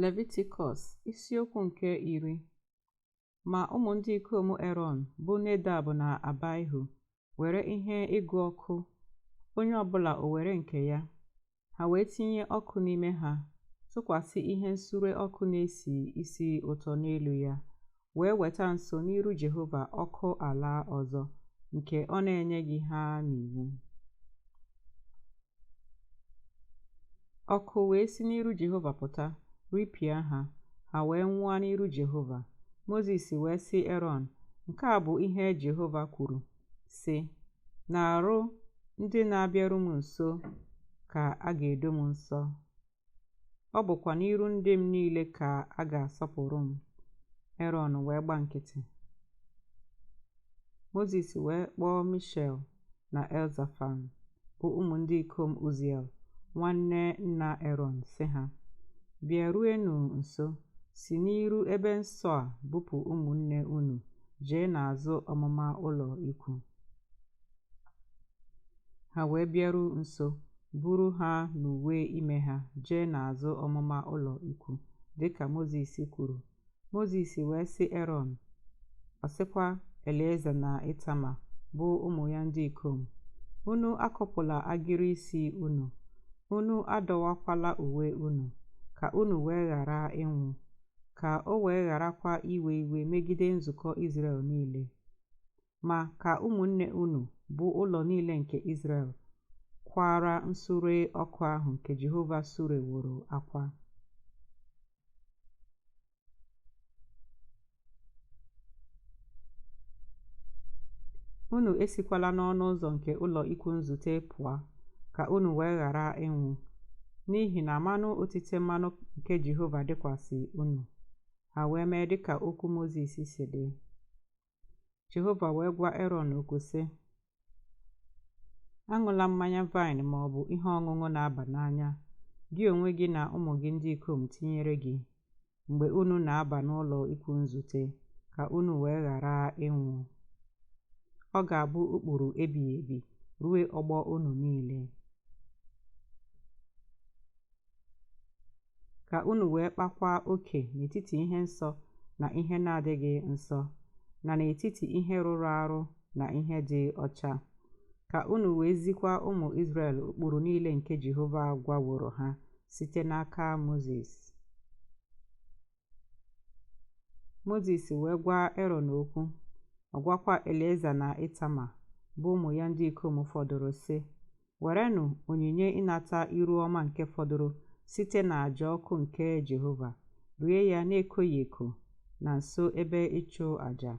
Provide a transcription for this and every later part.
Levitikọs isiokwu nke iri ma ụmụ ndị ikom Erọn bụ Nedab na Abaihu were ihe ịgụ ọkụ onye ọbụla o were nke ya ha wee tinye ọkụ n'ime ha tụkwasị ihe nsure ọkụ na-esi isi ụtọ n'elu ya wee weta nso n'iru Jehova ọkụ ala ọzọ nke ọ na-enyeghị ha n'iwu. Ọkụ wee si n'iru Jehova pụta, ripịa ha, ha wee nwụọ n'iru Jehova. Mozis wee sị Erọn, Nke a bụ ihe Jehova kwuru, sị, N'arụ ndị na-abịaru m nso ka a ga-edo m nsọ. ọ bụkwa n'iru ndị m niile ka a ga-asọpụrụ m. Erọn wee gba nkịtị. Mozis wee kpọọ Mishel na Elzafan bụ ụmụ ndị ikom Uziel nwanne nna Erọn sị ha, Bịaruenụ nso, si n'iru ebe nsọ a bupụ ụmụnne unu jee n'azụ ọmụma ụlọ ikwu. ha wee bịaru nso buru ha n'uwe ime ha jee n'azụ ọmụma ụlọ ikwu dịka Mozis kwuru Mozis wee sị erọn ọ sịkwa Elieza na itama bụ ụmụ ya ndị ikom unu akọpụla agịrị isi unu unu adọwakwala uwe unu ka unu wee ghara ịnwụ ka o wee gharakwa iwe iwe megide nzukọ Izrel niile ma ka ụmụnne unu bụ ụlọ niile nke Izrel kwara nsure ọkụ ahụ nke Jehova sureworo akwa. Unu esikwala n'ọnụ ụzọ nke ụlọ ikwu nzute pụọ, ka unu wee ghara ịnwụ, n'ihi na mmanụ otite mmanụ nke Jehova dịkwasị unu. Ha wee mee dịka okwu Mozis si dị. Jehova wee gwa Erọn okwu sị, Aṅụla mmanya vaịn ma ọ bụ ihe ọṅụṅụ na-aba n'anya, gị onwe gị na ụmụ gị ndị ikom tinyere gị, mgbe unu na-aba n'ụlọ ikwu nzute, ka unu wee ghara ịnwụ. Ọ ga-abụ ụkpụrụ ebighị ebi ruo ọgbọ unu niile. ka unu wee kpakwa oke n'etiti ihe nsọ na ihe na-adịghị nsọ na n'etiti ihe rụrụ arụ na ihe dị ọcha ka unu wee zikwa ụmụ Izrel ụkpụrụ niile nke Jehova gwaworo ha site n'aka Mozis Mozis wee gwa Erọn okwu, ọ gwakwa Elieza na Itama, bụ ụmụ ya ndị ikom fọdụrụ, sị, Werenụ onyinye ịnata iru ọma nke fọdụrụ site n'aja ọkụ nke Jehova, rie ya na-ekoghị eko na nso ebe ịchụ aja,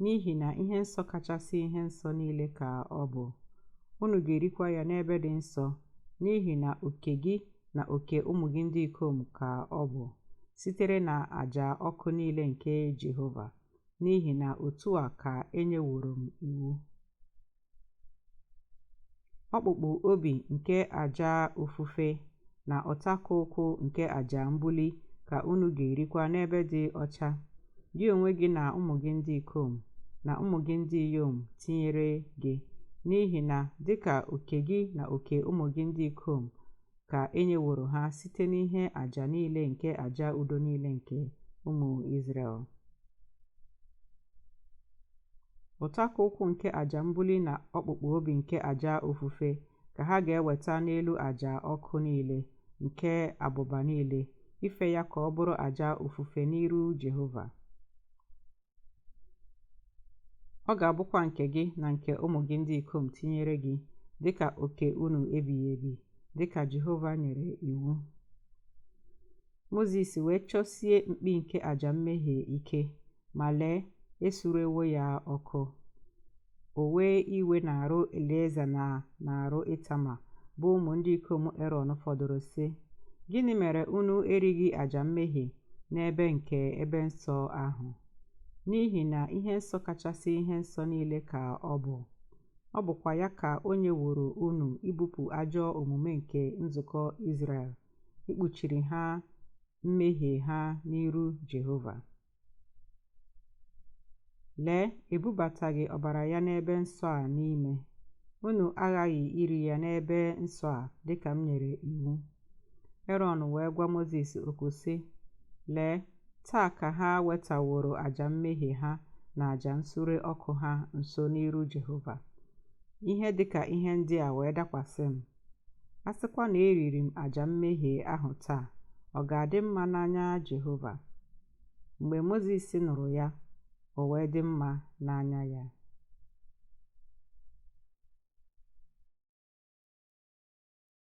n'ihi na ihe nsọ kachasị ihe nsọ niile ka ọ bụ. Unu ga-erikwa ya n'ebe dị nsọ, n'ihi na oke gị na oke ụmụ gị ndị ikom ka ọ bụ sitere na aja ọkụ niile nke Jehova n'ihi na otu a ka enyeworo m iwu ọkpụkpụ obi nke aja ofufe na ụtakụ ụkwụ nke aja mbuli ka unu ga-erikwa n'ebe dị ọcha gị onwe gị na ụmụ gị ndị ikom na ụmụ gị ndị inyom tinyere gị n'ihi na dịka oke gị na oke ụmụ gị ndị ikom ka e nyeworo ha site n'ihe aja niile nke aja udo niile nke ụmụ Izrel ụtakụ ụkwụ nke aja mbuli na ọkpụkpụ obi nke aja ofufe ka ha ga-eweta n'elu aja ọkụ niile nke abụba niile ife ya ka ọ bụrụ aja ofufe n'iru Jehova ọ ga-abụkwa nke gị na nke ụmụ gị ndị ikom tinyere gị dịka oke unu ebighị ebi dịka Jehova nyere iwu Mozis wee chọsie mkpi nke aja mmehie ike ma lee, esurewo ya ọkụ. O wee iwe n'arụ Elieza na n'arụ Itama bụ ụmụ ndị ikom Erọn fọdụrụ sị, Gịnị mere unu erighị aja mmehie n'ebe nke ebe nsọ ahụ? N'ihi na ihe nsọ kachasị ihe nsọ niile ka ọ bụ. Ọ bụkwa ya ka o nyeworo unu ibupụ ajọ omume nke nzukọ Izrel, ikpuchiri ha mmehie ha n'iru Jehova. Lee, ebubataghị ọbara ya n'ebe nsọ a n'ime. Unu aghaghị iri ya n'ebe nsọ a dị ka m nyere iwu. Erọn wee gwa Mozis okwu sị, Lee, taa ka ha wetaworo aja mmehie ha na aja nsure ọkụ ha nso n'iru Jehova. Ihe dị ka ihe ndị a wee dakwasị m. A sịkwa na eriri m aja mmehie ahụ taa, ọ ga-adị mma n'anya Jehova? Mgbe Mozis nụrụ ya, o wee dị mma n'anya ya.